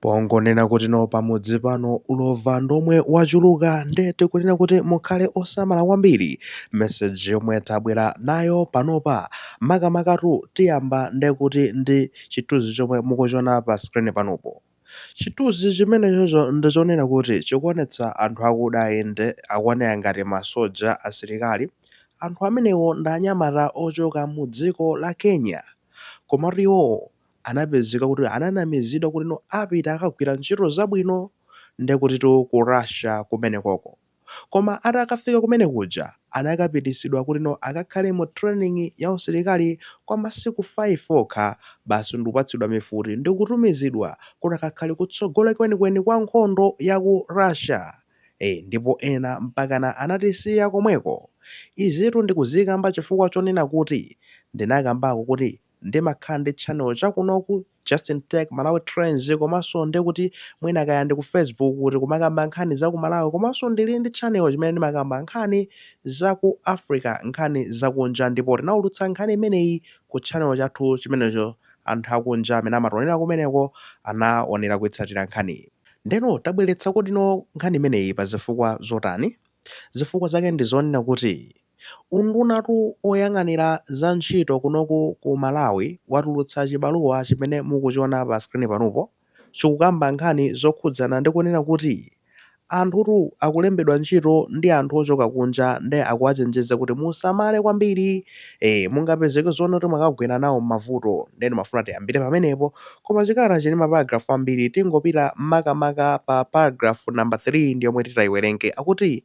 Pongonena kuti no pamudzi pano ulova ndomwe wachuluka nde tikunena kuti mukhale osamala kwambiri message yomwe tabwera nayo panopa makamakatu tiyamba ndekuti ndi chithunzi chomwe mukuchiona pa screen panopo chithunzi chimenechocho ndichonena kuti chikuonetsa anthu akuda inde akuoneka ngati masoja asilikali anthu amenewo ndi anyamata ochoka mu dziko la Kenya komatu iwowo anapezeka kuti ananamizidwa kuti no apita akagwira ntchito zabwino ndekutitu ku Russia kumenekoko koma atakafika kumene kuja anakapititsidwa kuti no akakhale mu training ya usilikali kwa masiku 5 okha basi ndikupatsidwa mifuti ndikutumizidwa kuti akakhale kutsogolo kwenikweni kwa nkhondo ya ku Russia ee ndipo ena mpakana anatisiya komweko izitu ndikuzikamba chifukwa chonena kuti ndinakambako kuti ndimakhala ndi channel chakunoku Justin Tech Malawi Trends komanso ndekuti mwina kaya ndi ku facebook kuti kumakamba nkhani za ku malawi komanso ndili ndi channel chimene ndimakamba nkhani za ku africa nkhani zakunja ndipo tinaulutsa nkhani imeneyi ku channel chathu chimenecho anthu akunja amene amationera kumeneko anaonera kuitsatira nkhaniyi ndeno tabweretsa kuti no nkhani imeneyi pa zifukwa zotani zifukwa zake ndi zonena kuti Undunatu oyang'anira za ntchito kunoku ku Malawi watulutsa chibaluwa chimene mukuchiona pa screen panopo chikukamba nkhani zokhudzana ndi kunena kuti anthutu akulembedwa ntchito ndi anthu ochoka kunja nde akuwachenjeza kuti musamale kwambiri ee mungapezeke zoona kuti mwakagwera nawo mmavuto nde ndimafuna tiyambire pamenepo koma chikalatachi n'maparagraph ambiri tingopita makamaka pa paragraph number 3 ndiyomwe titaiwerenge akuti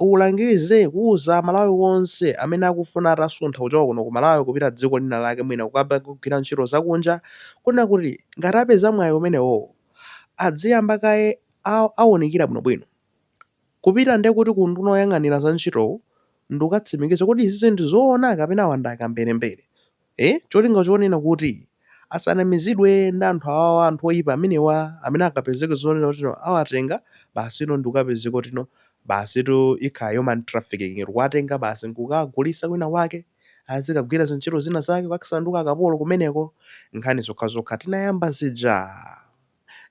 ulangize kuuza amalawi wonse amene akufuna atasuntha kuchoka kuno kumalawi kupita dziko lina lake mwina kukaba kugwira ntchito zakunja kunena kuti ngati apeza mwayi umenewowo adziyamba kaye aunikira bwinobwino kupita ndekuti ku unduna oyang'anira za ntchitowu ndikukatsimikiza kuti izizi ndizoona kapena wa ndi akamberembere E, cholinga chonena kuti asanamizidwe ndi anthu awawa, anthu oipa amenewa amene akapezeke zonena kuti no awatenga basi no ndikukapezeka kuti no basitu ikhala human trafficking kuwatenga basi n'kukagulitsa kwina kwake azikagwira zintchito zina zake kukasanduka akapolo kumeneko nkhani zokhazokha tinayankha zija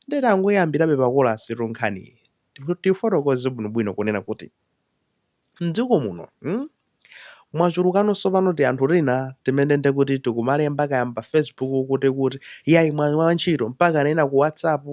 nde tangoyambirabe pakolasitu nkhani tifotokoze bwinobwino kunena kuti M'dziko muno mm mwachulukanso pano tianthu tina timene ndekuti tikumalemba kaya m'pa Facebook kuti kuti yayi mwayi wa ntchito mpakana ena ku whatsapp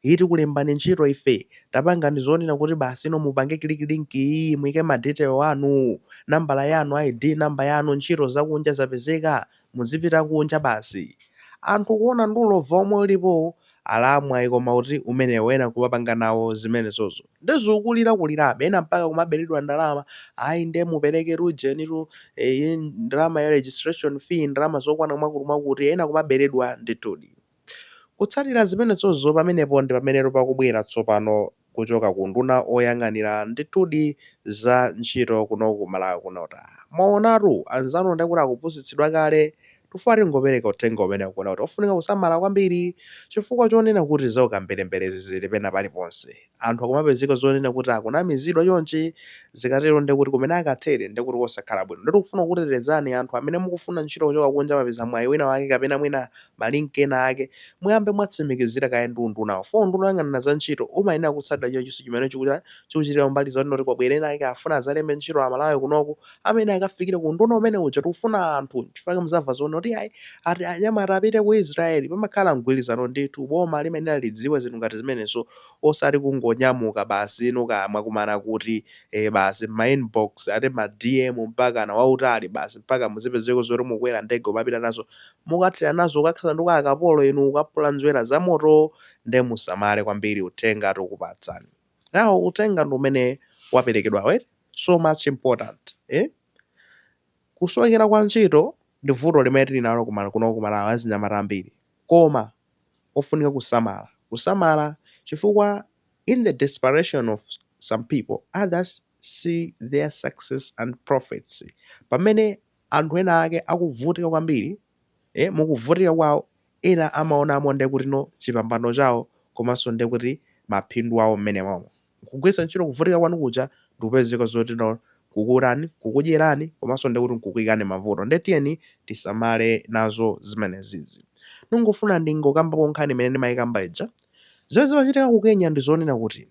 yi tikulembani ntchito ife tapangani zonena kuti basi ino mupange click link iyiyi muike ma detail anu nambala yanu ID number yanu ntchito zakunja zapezeka muzipita kunja basi. Anthu kuona ndi ulova omwe ulipowu, alamwayi koma kuti umenewo ena nkumapanga nawo zimenezozo. Nde zikukulira kulirabe, ena mpaka kumaberedwa ndalama, ayi nde mupereketu ujenitu, eeh, ndalama ya registration fee, ndalama zokwana mwakuti mwakuti, ena kumaberedwa ndithudi. Kutsatira zimenezozo pamenepo ndi pamenetu pakubwera tsopano kuchoka ku unduna oyang'anira ndithudi za ntchito kunoku ku Malawi kuno ta. Mwaonatu, anzanu ndiye kuti akupusitsidwa kale tikufuna tingopereka uthenga umenewu kunena kuti ofunika kusamala kwambiri chifukwa chonena kuti zaukamberemberezi zili pena paliponse. Anthu akumapezeka zonena kuti akunamizidwa chonchi, zikatero ndiye kuti kumene akathere ndiye kuti kosakhala bwino. Ndiye tikufuna kukutetezani anthu amene mukufuna ntchito kuchoka kunja mwapeza mwayi wina wake kapena mwina ma link ena ake, muyambe mwatsimikizira kaye ndi undunawo. Chifukwa unduna woyang'anira za ntchito umayenera kutsatira chilichonse chimene chikuchita, chikuchitika kumbali zonena kuti kwabwera ena ake afuna adzalembe ntchito a Malawi kunoku, amayenera akafikire ku unduna umene uja. Tikufuna anthu, n'chifukwa chake mudzamva zonena kuti iyayi ati anyamata apite ku Israel. Pamakhala mgwirizano ndithu. Boma limayenera lidziwe zinthu ngati zimenezo. osati kungonyamuka basi inu kaya mwakumana kuti ee basi mma inbox ati ma DM mpakana wautali basi mpaka muzipezeka zoti mukukwera ndege kumapita nazo mukathera nazo kukakhala ndi akapolo inu kukapula nzwera za moto nde musamale kwambiri uthenga tikupatsani nawo uthenga ndi umene waperekedwawo eti so much important eh kusowekera kwa ntchito ndi vuto limene tili nalo kuno ku Malawi achinyamata ambiri koma ofunika kusamala kusamala chifukwa in the desperation of some people others see their success and profits pamene anthu ena ake akuvutika kwambiri eh, mukuvutika kwawo ena amaonamo nde kuti no chipambano chawo komanso ndekuti maphindu awo mmene momo nkugwiritsa ntchito kuvutika kwanu kuja ndikupezeka zoti no kukurani, kukudyerani komanso ndiye kuti nkukuikani m'mavuto ndiye tiyeni tisamale nazo zimenezizi. Ndingofuna ndingokambapo nkhani imene ndimayikamba ija. Zimene zimachitika ku Kenya ndi zonena kuti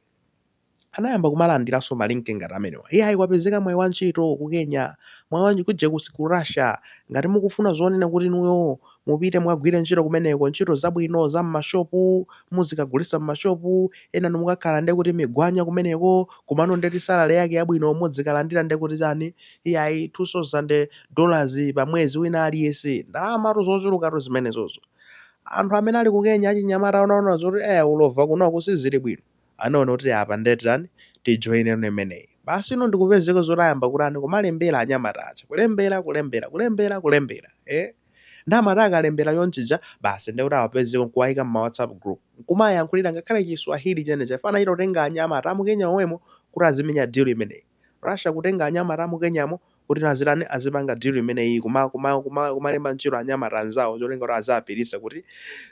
anayamba kumalandiranso malinki ngati amenewa. Iyayi kwapezeka mwayi wa ntchito ku Kenya, mwayi wa kuje ku Russia ngati mukufuna zonena kuti inuyo Mupite mukagwire ntchito kumeneko, ntchito zabwino za m'mashopu, muzikagulitsa m'mashopu, enanu mukakhala nde kuti migwanya kumeneko, komano ndeti salary yake yabwino muzikalandira nde kuti chani, iyayi 2000 dollars pa mwezi wina aliyense, ndalamatu zochulukatu zimenezozo. Anthu amene ali ku Kenya achinyamata anaona zoti eh ulova kunoku sizili bwino, anaona kuti apa nde titani, tijoineno imeneyi. Basi no ndikupezeka zoti ayamba kutani, kumalembera anyamata aja, kulembera, kulembera, kulembera, kulembera, eh. Nde amati akalembera chonchija basi nde kuti awapezeko nkuwaika mma whatsapp group nkumayankhulira ngakhale chi swahili chenicheni. Pena achita kutenga anyamata amu Kenya omwemo kuti azimenya deal imeneyi. Russia kutenga anyamata amu Kenyamo kuti azitani azipanga deal imeneyiyi kuma kuma kuma kumalemba ntchito anyamata anzawo cholinga kuti aziwapirisa kuti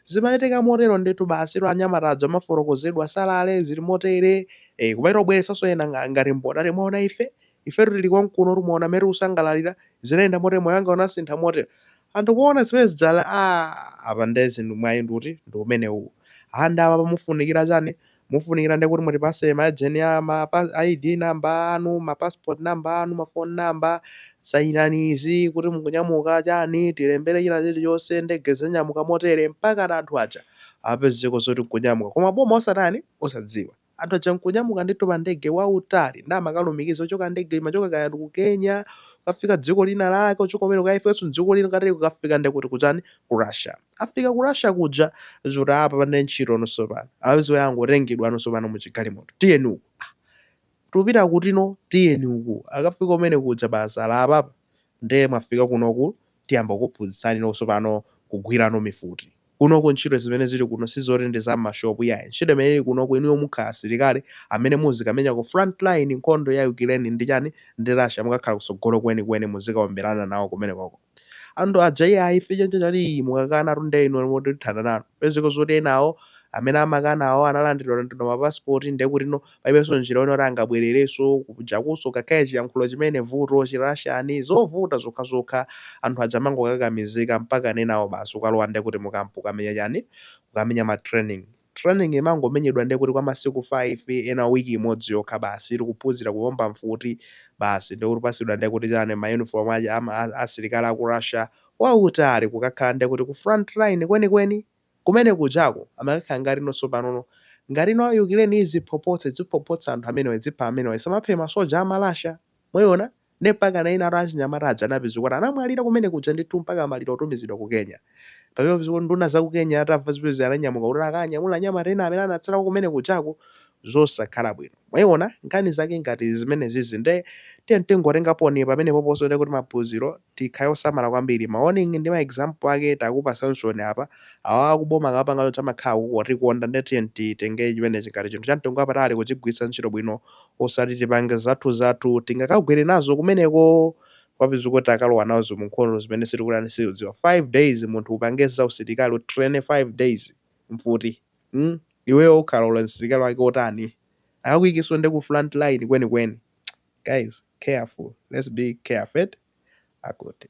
zimachitika motero ndithu basitu anyamata aja amafotokozedwa salary zili motere. Eh, kumachita kubweretsanso ena nga- ngati mboni ati mwaona ife Ifetu tili konkuno tu mwaona mmene tikusangalalira, zinayenda motere moyo wanga unasintha motere. Anthu kuona zimene zija ali aah! Apa ndiye zinthu mwayi nditu? Ndi umenewu. Aah ndiye apapa pakufunikira chani? Mufunikira ndiye kuti mutipatse ma ejeni a ma pa, ID number anu, ma passport number anu, ma phone number, sayinani izi kuti mukunyamuka, chani, tilembere china chilichonse, ndege zinyamuka motere, mpakana anthu aja apezeko zoti n'kunyamuka. Koma boma osatani? Osadziwa. Anthu aja nkunyamuka ndithu pa ndege wautali nde amakalumikiza ochoka ndege imachoka kaya ku Kenya kafika dziko lina lake ochoka kumene kaya afikenso dziko lina kateri kukafika nde kuti kuchani ku Russia afika ku Russia kuja zoti apa pande ntchito nonso pano apeza angotengedwa nonso pano mu chigalimoto tiyeni uku ah, tupita kuti no tiyeni uku akafika kumene kuja basi ali apapa nde mwafika kuno ku tiyamba kukuphunzitsani nonso pano kugwirano mifuti. Kunoko ntchito zimene zili kuno sizoti ndi za m'mashopu iyayi. Ntchito imene ili kunoko inuyo mukhala asilikali amene muzikamenya ku front line nkhondo ya Ukileni ndi chani ndi Russia mukakhala kusogolo kweni kweni muzikaomberana nawo kumenekoko. Anthu aja iyayi ife chanichani ali mukakanatu nde inuyo moti tithana nanu. Kupezeka zoti enawo amene amakanawo analandidwa landidwa ma passport ndekuti no palibenso njira yoti angabwererenso kujakunso ngakhale chiyankhulo chimene vuto chi Russian zovuta zokhazokha anthu aja amangokakamizika mpakana enawo basi kukalowa ndekuti mu camp kukamenya chani kukamenya ma training training imangomenyedwa ndekuti kwa masiku 5 ena week imodzi yokha basi akuphunzira kuomba mfuti basi ndekuti kupatsidwa ndekuti chani ma uniform aja a asilikali aku Russia wautali kukakhala ndekuti ku front line kwenikweni Kumene kujako amakakhala ngati nonso panono. Ngati no Yukireni iziphophotsa idziphophotsa anthu amenewa idzipha amenewa isamaphe masoja a ma Russia. Mwayiona? Ndiye mpakana ena anthu achinyamata aja anapezeka kuti anamwalira kumene kuja ndithu mpaka maliro otumizidwa ku Kenya. Pamene papezeka kuti nduna za ku Kenya atamva zimenezi ananyamuka kuti akanyamule anyamata ena amene anatsalako kumene kujaku zosakhala bwino. Mwaiona nkhani zake ngati zimenezizi nde tiyeni tingotengaponi pamenepoponso nde kuti maphunziro tikhale osamala kwambiri ma warning ndi ma example ake takupasansoni apa awawa kuboma akapanga choncho amakhala akutikonda nde tiyeni titenge chimenechi ngati chinthu chamtengo wapatali kuchigwiritsa ntchito bwino osati tipange zathuzathu tingakagwere nazo kumeneko kupezeka kuti takalowa nazo munkhondo zimene sitikutani sitikudziwa 5 days munthu upange zausilikali utraine 5 days mfuti mm? iweyo ukhala uli msilikali wake wotani akakuikenso nde ku front line kwenikweni guys careful let's be careful akuti